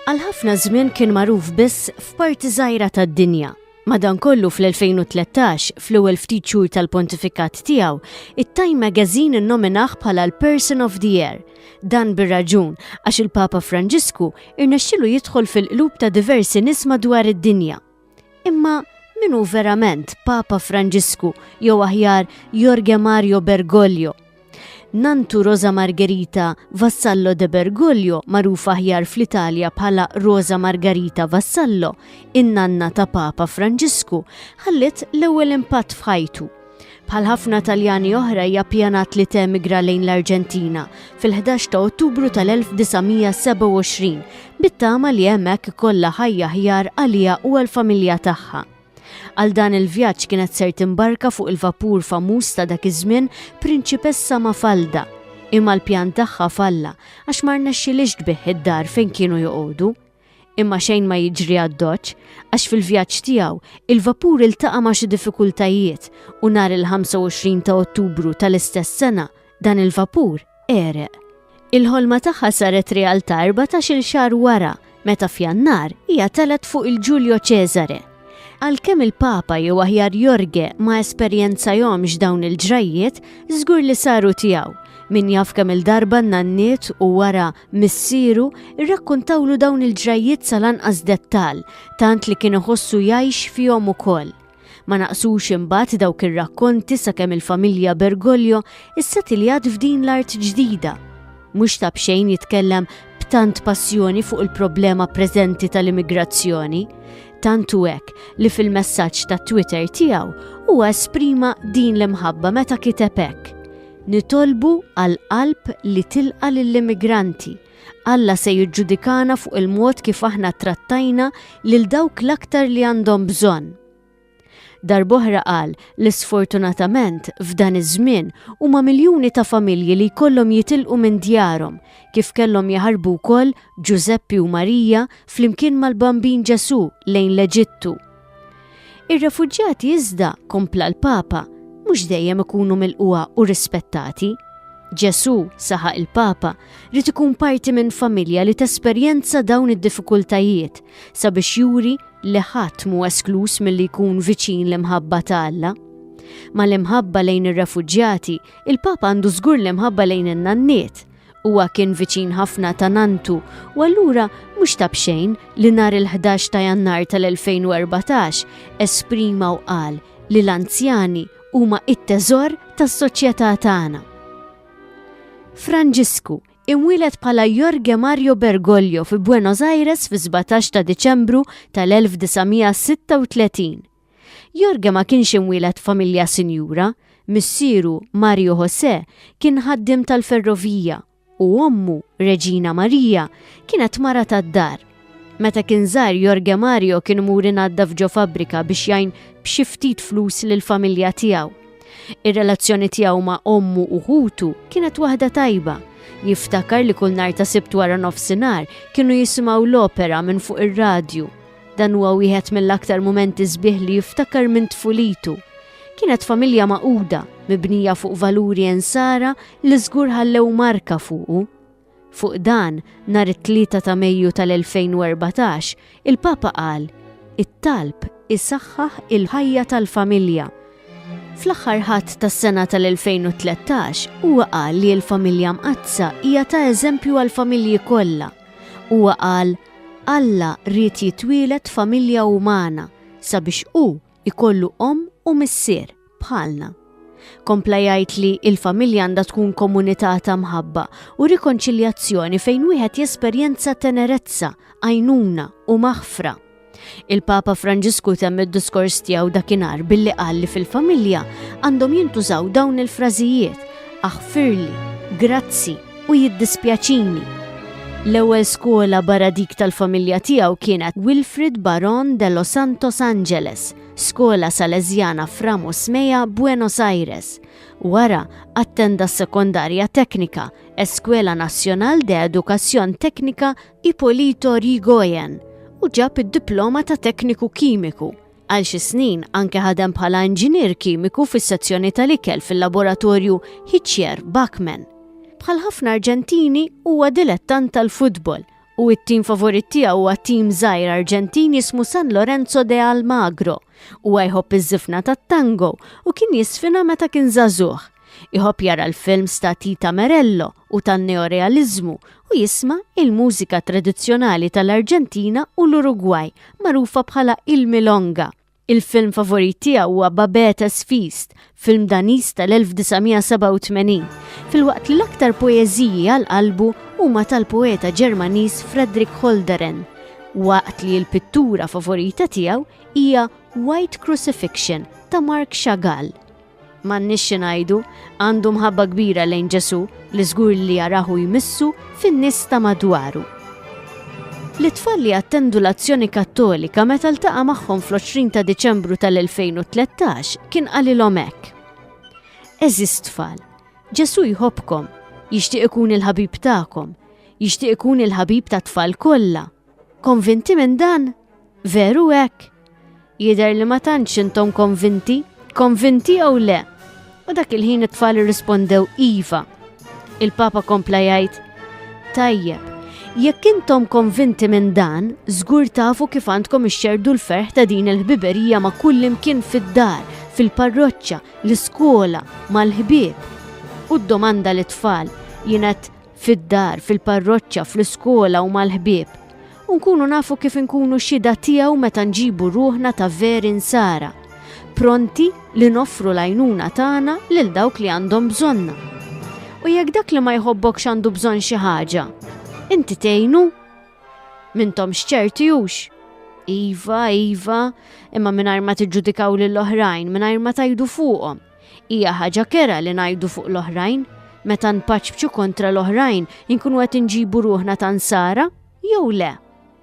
Għal ħafna żmien kien magħruf biss f'parti żgħira tad-dinja. Madankollu fl-2013, fl-ewwel ftit xhur tal-pontifikat tiegħu, it-Time Magazine innominah bħala l-Person of the Year. Dan bir-raġun għax il-Papa Franġisku irnexxilu jidħol fil-qlub ta' diversi nies madwar id-dinja. Imma min hu verament Papa Franġisku jew aħjar Jorge Mario Bergoglio? Nantu Rosa Margherita Vassallo de Bergoglio, magħruf aħjar fl-Italja bħala Rosa Margarita Vassallo, in-nanna ta' Papa Franġisku, ħalliet l-ewwel impatt f'ħajtu Bħal ħafna Taljani oħra hija pjanat li temigra lejn l-Arġentina fil-11 ta' Ottubru tal-1927 bit-tama li hemmhekk kollha ħajja ħjar għalija u għall-familja tagħha. Għal dan il-vjaġġ kienet ser timbarka fuq il-vapur famuż ta' dak iż-żmien Prinċipessa Mafalda imma l-pjan tagħha falla għax ma rnexxilix tbih id-dar fejn kienu joqogħdu. Imma xejn ma jiġri għad-Doċ, għax fil-vjaġġ tiegħu, il-vapur iltaqa' ma' xi diffikultajiet u nhar il-25 ta' Ottubru tal-istess sena, dan il-vapur għereq. Il-ħolma tagħha saret realtà erbatax-il xahar wara, meta f'Jannar hija telgħet fuq il-Giulio Cesare. Għalkemm il-Papa, jew aħjar Jorge, ma esperjenzajhomx dawn il-ġrajjiet, żgur li saru tiegħu. Min jaf kemm-il darba nnanniet u wara missieru, irrakkuntawlu dawn il-ġrajjiet sal-anqas dettall, tant li kien iħossu jgħix fihom ukoll. Ma naqsux imbagħad dawk ir-rakkonti sakemm il-familja Bergoglio issetiljat f'din l-art ġdida. Mhux ta' b'xejn jitkellem tant passjoni fuq il-problema preżenti tal-immigrazzjoni, tantu hekk li fil-messaġġ ta' Twitter tiegħu huwa esprima din l-imħabba meta kiteb hekk. Nitolbu għal qalb li tilqa' lill-immigranti. Alla se jiġġudikana fuq il-mod kif aħna ttrattajna lil dawk l-aktar li għandhom bżonn. Darb'oħra qal li sfortunatament f'dan iż-żmien huma miljuni ta' familji li jkollhom jitilqu minn djarhom, kif kellhom jaħarbu wkoll Ġużeppi u Marija flimkien mal-Bambin Ġesù lejn l-Eġittu. Ir-refuġjati iżda, kompla l-Papa, mhux dejjem ikunu milquha u rispettati. Ġesù, saħaq il-Papa, li ikun parti minn familja li tesperjenza dawn id-diffikultajiet sabiex juri li ħadd mu eskluż milli jkun viċin l-imħabba ta' Alla. Ma l-imħabba lejn ir-refuġjati, il-Papa għandu żgur l-imħabba lejn in-nanniet, Huwa kien viċin ħafna ta' Nantu u allura mhux ta' b'xejn li nhar il-11 ta' Jannar tal-2014 esprima u qal li l-anzjani huma t-teżor tas-soċjetà tagħna. Franġisku, imwieled bħala Jorge Mario Bergoglio fi Buenos Aires fis-17 ta' Diċembru tal-1936, Jorge ma kienx imwieled f'familja sinjura, missieru Mario José kien ħaddiem tal-ferrovija u ommu, Regina Maria, kienet mara tad-dar. Meta kien żgħir Jorge Mario kien imur inaddaf ġo fabbrika biex jgħin b'xi ftit flus lill-familja tiegħu. Ir-relazzjoni tiegħu ma' ommu u ħutu kienet waħda tajba. Jiftakar li kull nhar ta' Sibt wara nofsinhar kienu jisimgħu l-opera minn fuq ir-radju Dan huwa wieħed mill-aktar mumenti sbieħ li jiftakar minn tfulitu. Kienet familja maquda, mibnija fuq valuri ensara li żgur ħallew marka fuqu. Fuq dan, nhar it-3 ta' Mejju tal-2014, il-Papa qal, It-talb isaħħaħ il-ħajja tal-familja. Fl-aħħar Ħadd tas-sena tal-2013, huwa qal li l-familja Mqaddsa hija ta' eżempju għall-familji kollha. Huwa qal, Alla ried jitwieled f'familja umana sabiex hu jkollu omm u missier, bħalna. Kompla jgħid li l-familja għandha tkun komunità ta' mħabba u rikonċiljazzjoni fejn wieħed jesperjenza tenerezza, għajnuna u maħfra. Il-Papa Franġisku temm id-diskors tiegħu dakinhar billi qal li fil-familja għandhom jintużaw dawn il-frażijiet aħfirli, grazzi u jiddispjaċini. L-ewwel skola barra dik tal-familja tiegħu kienet Wilfrid Baron de Los Santos Angeles, skola Salezjana Framos Meja Buenos Aires. Wara attenda s-sekondarja teknika, Eskwela Nazzjonal de Edukazzjon Teknika Ipolito Yrigoyen u ġab id-diploma ta' tekniku kimiku. Għal xi snin anke ħadem bħala inġinier kimiku fis-sezzjoni tal-ikel fil-laboratorju Hitchier Bachmann. Bħal ħafna Arġentini huwa dilettant tal-futbol u t-tim favorit tiegħu huwa tim żgħir Arġentin jismu San Lorenzo de Almagro. Huwa jħobb iż-żifna tat-tango u kien jiżfina meta kien żagħżugħ. Iħobb jara l-films ta' Tita Merello u tan-neorealiżmu u jisma' il-mużika tradizzjonali tal-Arġentina u l-Urugwaj magħrufa bħala il-milonga. Il-film favorit tiegħu huwa Babettes Feast, film Daniż tal-1987, filwaqt li l-aktar poeżiji għal qalbu huma tal-poeta Ġermaniż Fredrik Holderen, waqt li l-pittura favorita tiegħu hija White Crucifixion ta' Mark Chagall. M'għandniex xi ngħidu, għandu mħabba kbira lejn Ġesù li żgur li jarah u jmissu fin-nies ta' madwaru. Lit-tfal li attendu l-Azzjoni Kattolika meta ltaqa' magħhom fl-20 ta' Diċembru tal-2013 kien qalilhom hekk, Għeżież tfal, Ġesù jħobbkom, jixtieq ikun il-ħabib tagħkom, jixtieq ikun il-ħabib tat-tfal kollha. Konvinti minn dan? Veru hekk? Jidher li ma tantx intom konvinti, konvinti jew le? U dak il-ħin it-tfal irrispondew iva. Il-Papa kompla jgħid, Tajjeb, jekk intom konvinti minn dan, żgur tafu kif għandkom ixxerdu l-ferħ ta' din il-ħbiberija ma' kull imkien fid-dar, fil-parroċċa, l-iskola, mal-ħbieb. U d-domanda li tfal jienet fid-dar, fil-parroċċa, fl-iskola u mal-ħbieb, u nkunu nafu kif inkunu xhieda tiegħu meta nġibu ruħna ta' veri nsara, pronti li noffru l-għajnuna tagħna lil dawk li għandhom bżonna. U jekk dak li ma jħobbokx għandu bżonn xi ħaġa, inti tgħinu? Mintom xċerti hux? Iva, iva, imma mingħajr ma tiġġudikaw lill-oħrajn, mingħajr ma tajdu fuqhom. Hija ħaġa kerha li ngħidu fuq l-oħrajn. Meta npaċpċu kontra l-oħrajn, inkunu qed inġibu ruħna ta' nsara jew le?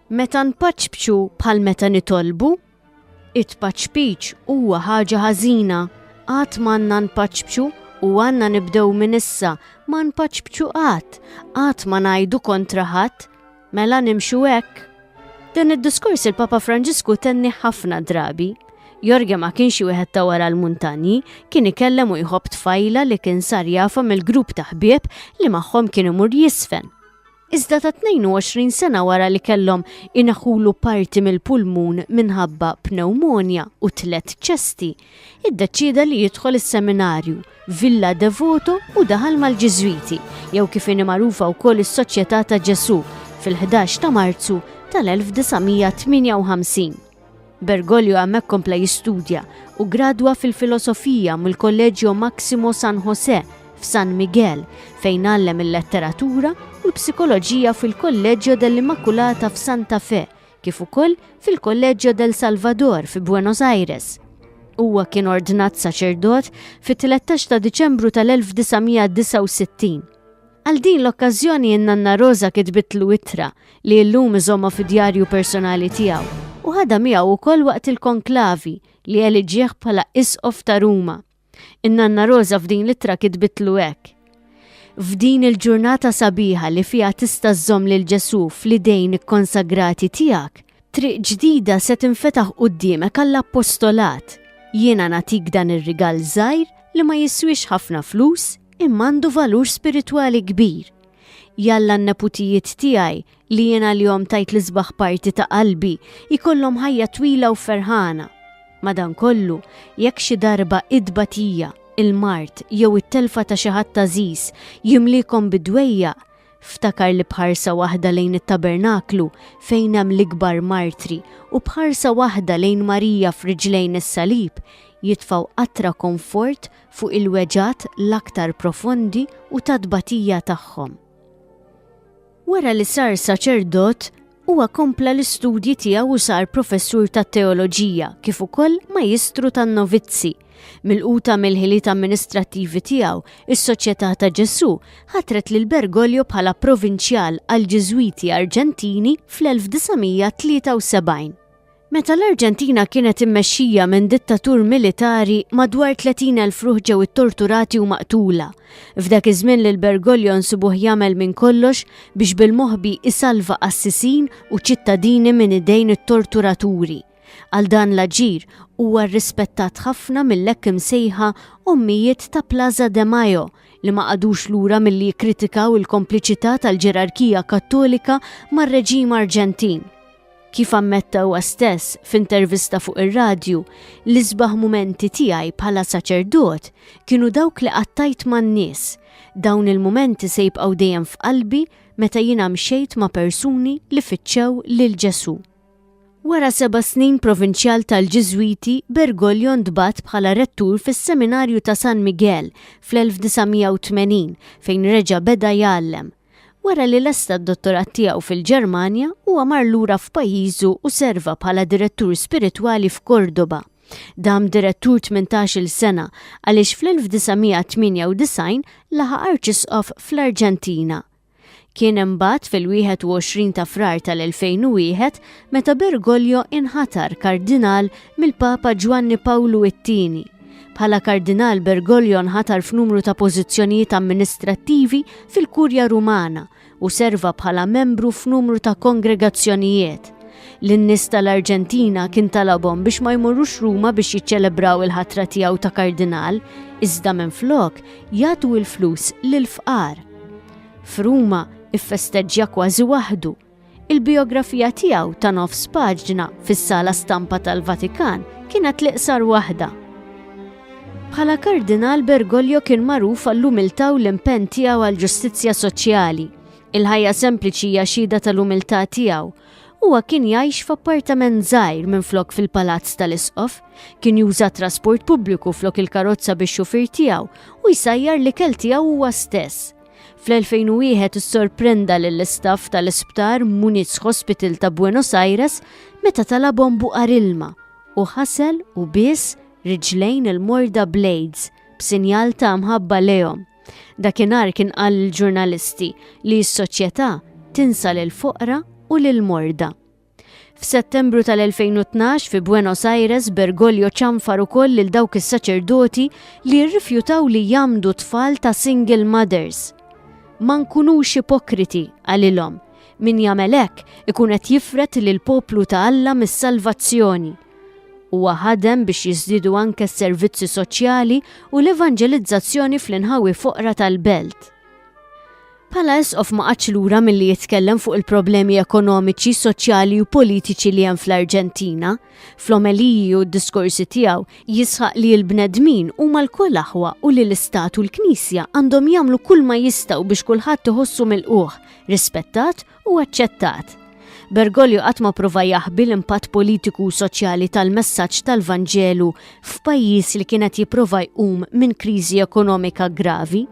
Meta npaċpċu bħal meta nitolbu? It-tpaċpiċ huwa ħaġa ħażina. Qatt m'għandna npaċpċu u għandna nibdew minn issa ma npaċpċu qatt, qatt ma ngħidu kontra ħadd, Mela nimxu hekk? Dan id-diskors il-Papa Franġisku tenni ħafna drabi. Jorge ma kienx xi wieħed ta' wara l-muntanji, kien ikellem u jħobb tfajla li kien sar jafa mill-grupp ta' ħbieb li magħhom kien imur jisfen. Iżda ta' 22 sena wara li kellhom inaħulu parti mill-pulmun minħabba pneumonja u tlet ċesti iddeċieda li jidħol is-Seminarju, Villa Devoto u daħal mal-Ġiżwiti, jew kif inhi magħrufa wkoll is-Soċjetà ta' Ġesù, fil-11 ta' Marzu tal-1958. Bergoglio hemmhekk kompla jistudja u gradwa fil-Filosofija mill-Kolleġġio Maximo San Josè f'San Miguel, fejn għallem il-Letteratura u l-Psikoloġija fil-Kolleġġio dell'Immaculata f'Santa Fe, kif ukoll fil-Kolleġġo del Salvador fi Buenos Aires. Huwa kien ordnat saċerdot fit-13 ta' Diċembru tal-1969. Għal din l-okkażjoni n-Nanna Rosa kitbitlu ittra li llum iżomma fi djarju personali tiegħu u ħadha miegħu wkoll waqt il-konklavi li eliġieħ bħala Isqof ta' Ruma In-nanna Roża f'din l-ittra kitbitlu hekk, F'din il-ġurnata sabiħa li fiha tista' żżomm lil Ġesù fl-idejn ikkonsagrati tiegħek, triq ġdida se tinfetaħ quddiemek għall-appostolat. Jiena nagħtik dan ir-rigal żgħir li ma jiswiex ħafna flus imma għandu valur spiritwali kbir. Jalla n-neputijiet tiegħi li jien għalihom tajt l-isbaħ parti ta' qalbi, jkollhom ħajja twila u ferħana. Madankollu, jekk xi darba it-tbatija, il-mard jew it-telfa ta' xi ħadd għażiż jimliekom bi dwejjaq, ftakar li b'ħarsa waħda lejn it-tabernaklu fejn hemm l-ikbar martri u b'ħarsa waħda lejn Marija f'riġlejn is-salib jitfgħu qatra komfort fuq il-weġgħat l-aktar profondi u tat-tbatija tagħhom. Wara li sar saċerdot, huwa kompla l-istudji tiegħu u sar professur tat-teoloġija kif ukoll majistru tan-novizzi. Mill-quta mill-ħiliet amministrattivi tiegħu, is-Soċjetà ta' Ġesù ħatret lil Bergoglio bħala provinċjal għall-Ġiżwiti Arġentini fl-1973. Meta l-Arġentina kienet immexxija minn dittatur militari, madwar 30,000 ruħ ġew ittorturati u maqtula. F'dak iż-żmien lil Bergoglio nsibuh jagħmel minn kollox biex bil-moħbi isalva qassisin u ċittadini minn idejn it-torturaturi. Għal dan l-aġir huwa rrispettat ħafna mill-hekk imsejħa ommijiet ta' Plaza de Mayo li ma qagħdux lura milli jikkritikaw il-kompliċità tal-ġerarkija Kattolika mar-reġim Arġentin. Kif ammetta huwa stess f'intervista fuq ir-radju, l-isbaħ mumenti tiegħi bħala saċerdot kienu dawk li qattajt man-nies. Dawn il-mumenti se jibqgħu dejjem f'qalbi meta jiena mxejt ma' persuni li fittxew lil Ġesù. Wara seba' snin provinċjal tal-Ġiżwiti, Bergoglio ntbagħat bħala rettur fis-Seminarju ta' San Miguel fl-1980 fejn reġa' beda jgħallem. Wara li lesta d-dottorat tiegħu fil-Ġermanja, huwa mar lura f'pajjiżu u serva bħala direttur spiritwali f'Cordoba. Dam direttur 18-il sena għaliex fl-1998 laħaq arċisqof fl-Arġentina. Kien imbagħad fil-21 ta' Frar tal-2001 meta Bergoglio inħatar kardinal mill-Papa Ġwanni Pawlu it-Tieni. Bħala Kardinal Bergoglio nħatar f'numru ta' pożizzjonijiet amministrattivi fil-Kurja Rumana u serva bħala membru f'numru ta' kongregazzjonijiet. Lin-nies tal-Arġentina kien talabhom biex ma jmorrux Ruma biex jiċċelebraw il-ħatra tiegħu ta' Kardinal, iżda minflok jagħtu l-flus lill-fqar. F'Ruma iffesteġġja kważi waħdu. Il-bijografija tiegħu ta' nofs paġna fis-Sala Stampa tal-Vatikan kienet l-iqsar waħda. Bħala Kardinal Bergoglio kien magħruf għall-umiltà u l-impenn tiegħu għall-ġustizzja soċjali. Il-ħajja sempliċi hija xhieda tal-umiltà tiegħu. Huwa kien jgħix f'appartament żgħir minflok fil-palazz tal-isqof, kien juża trasport pubbliku flok il-karozza biex xufir tiegħu u jsajjar li kel tiegħu huwa stess. Fl-2001 issorprenda lill-istaff tal-isptar Muniz Hospital ta' Buenos Aires meta talabhom buqar ilma u ħasel u biss riġlejn il-morda blades b'sinjal ta' mħabba lejhom. Dakinhar kien qal lill-ġurnalisti li s-soċjetà tinsa lil foqra u lil morda. F'Settembru tal-2012 fi Buenos Aires, Bergoglio ċanfar ukoll lil dawk is-saċerdoti li rrifjutaw li jagħmdu tfal ta' single mothers. Ma nkunux ipokriti, qalilhom. Min jagħmel hekk ikun qed jifred lil poplu ta' Alla mis-salvazzjoni. Huwa ħadem biex jiżdiedu anke s-servizzi soċjali u l-evanġelizzazzjoni fl-inħawi foqra tal-belt. Bħala Isqof ma qagħadx lura milli jitkellem fuq il-problemi ekonomiċi, soċjali u politiċi li hemm fl-Arġentina. Fl-omeliji u d-diskorsi tiegħu, jisħaq li l-bnedmin huma lkoll aħwa u li l-Istat u l-Knisja għandhom jagħmlu kull ma jistgħu biex kulħadd iħossu milqugħ, rispettat u aċċettat. Bergoglio qatt ma prova jaħbi l-impatt politiku u soċjali tal-messaġġ tal-Vanġelu f'pajjiż li kien qed jipprova jqum minn kriżi ekonomika gravi.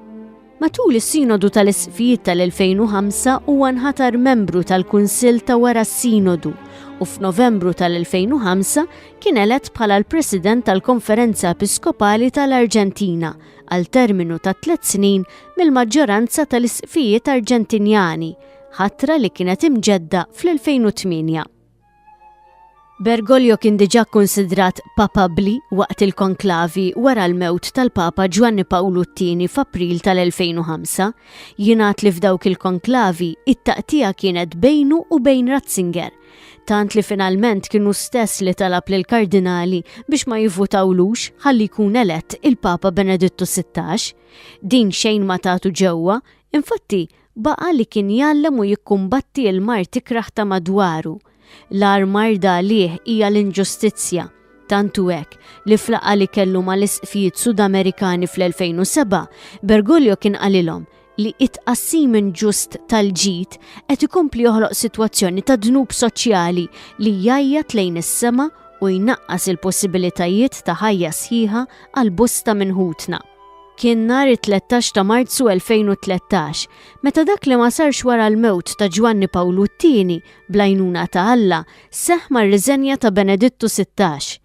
Matul is-Sinodu tal-Isqfijiet tal-2005 huwa nħatar membru tal-Kunsill ta' wara s-Sinodu u f'Novembru tal-2005 kien elett bħala l-President tal-Konferenza Episkopali tal-Arġentina għal terminu ta' tliet snin mill-maġġoranza tal-Isqfijiet Arġentinjani, ħatra li kienet imġedda fl-2008. Bergoglio kien diġà kkunsidrat papabbli waqt il-konklavi wara l-mewt tal-Papa Ġwanni Pawlu t-Tieni f'April tal-2005. Jingħad li f'dawk il-konklavi, it-taqtigħa kienet bejnu u bejn Ratzinger, tant li finalment kien hu stess li talab lill-kardinali biex ma jivvutawlux ħalli jkun elett il-Papa Benedittu 16. Din xejn ma tatu ġewwa, infatti Baqa' li kien jgħallem u jikkumbatti l-mard ikrah ta' madwaru. L-agħar marda għalih hija l-inġustizzja, tant hu hekk, li f'laqgħa li kellu mal-Isqfijiet Sudamerikani fl-2007, Bergoglio kien qalilhom li t-tqassim inġust tal-ġid qed ikompli joħloq sitwazzjoni ta' dnub soċjali li jgħajjat lejn is-sema u jnaqqas il-possibilitajiet ta' ħajja sħiħa għal bosta minn ħutna. Kien nhar it-13 ta' Marzu 2013, meta dak li ma sarx wara l-mewt ta' Ġwanni Pawlu t-Tieni, bl-għajnuna ta' Alla, seħħ mar-riżenja ta' Benedittu Sittax.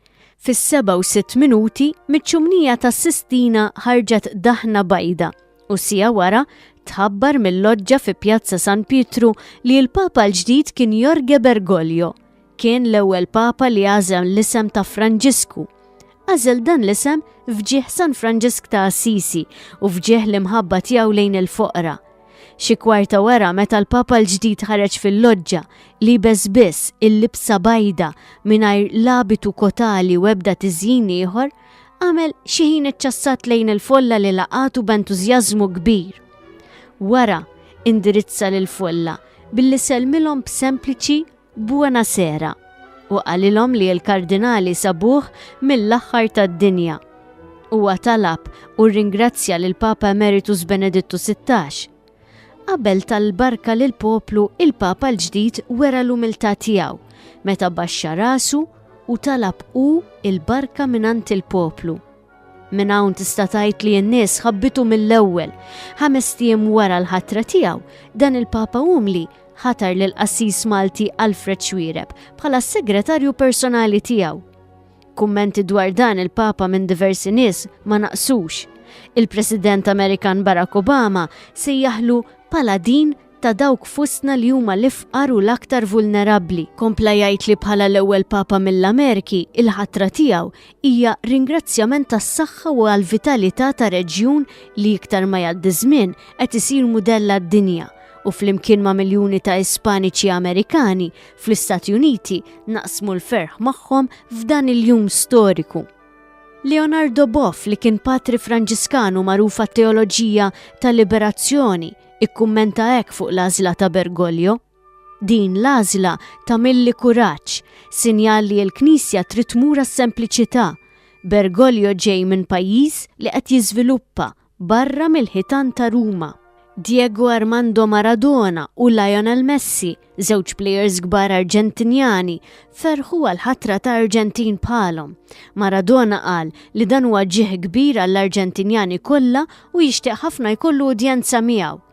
Fis-sebgħa u sitt minuti, miċ-ċumnija tas-Sistina ħarġet daħna bajda u siegħa wara tħabbar mil-loġġa fi Pjazza San Pietru li l-Papa l-ġdid kien Jorge Bergoglio. Kien l-ewwel Papa li għażel l-isem ta' Franġisku. Għażel dan l-isem f'ġieħ San Franġisk ta' Assisi u f'ġieħ l-imħabba tiegħu lejn il-foqra. Xi kwarta wara meta l-Papa l-ġdid ħareġ fil-loġġa, liebes biss il-libsa bajda mingħajr l-abitu kotali u ebda tiżjin ieħor, għamel xi ħin iċċassat lejn il-folla li laqatu b'entużjażmu kbir. Wara, indirizza lil folla billi sellmilhom b'sempliċi Buona sera, u qalilhom li l-Kardinali sabuh mill-aħħar tad-dinja. Huwa talab u rringrazzja lill-Papa Emeritus Benedittu Sittax. Qabel ta l-barka lill-poplu, il-Papa l-ġdid wera l-umiltà tiegħu meta baxxa rasu u talab hu l-barka mingħand il-poplu. Minn hawn tista' tgħid li n-nies ħabbitu mill-ewwel. Ħames tiem wara l-ħatra tiegħu, dan il-Papa Umli ħatar lil qassis Malti Alfred Xwireb bħala s-segretarju personali tiegħu. Kummenti dwar dan il-Papa minn diversi nies ma naqsux. Il-President Amerikan Barack Obama sejjaħlu paladin ta' dawk fostna li huma l-ifqar u l-aktar vulnerabbli. Kompla jgħid li bħala l-ewwel Papa mill-Amerki, il-ħatra tiegħu hija ringrazzjament għas-saħħa u għall-vitalità ta' reġjun li iktar ma jgħaddi ż-żmien qed isir mudell għad-dinja u flimkien ma' miljuni ta' Ispaniċi Amerikani fl-Istati Uniti naqsmu l-ferħ magħhom f'dan il-jum storiku. Leonardo Boff li kien patri Franġiskanu magħruf għat-teoloġija tal-liberazzjoni, ikkummenta hekk fuq l-għażla ta' Bergoglio, Din l-għażla tagħmilli kuraġġ, sinjal li l-Knisja trid tmur għas-sempliċità. Bergoglio ġej minn pajjiż li qed jiżviluppa barra mill-ħitan ta' Ruma. Diego Armando Maradona u Lionel Messi Żewġ plejers kbar Arġentinjani ferħu għal ħatra ta' Arġentin bħalhom. Maradona qal li dan huwa ġieħ kbir għall-Arġentinjani kollha u jixtieq ħafna jkollu udjenza miegħu.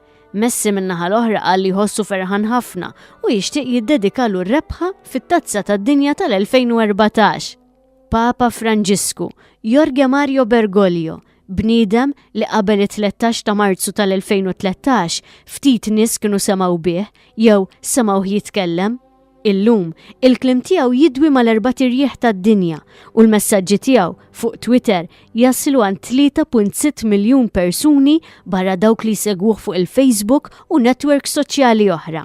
Messi min-naħa l-oħra qal li jħossu ferħan ħafna u jixtieq jiddedikalu r-rebħa fit-Tazza tad-Dinja tal-2014. Papa Franġisku, Jorge Mario Bergoglio, bniedem li qabel it-tlettax ta' Marzu tal-2013 ftit nies kienu semgħu bih jew semgħuh jitkellem. Illum, il-kliem tiegħu jidwi mal-erbat irjieħ tad-dinja u l-messaġġi tiegħu fuq Twitter jaslu għand 3.6 miljun persuni barra dawk li jsegwuh fuq il-Facebook u netwerks soċjali oħra.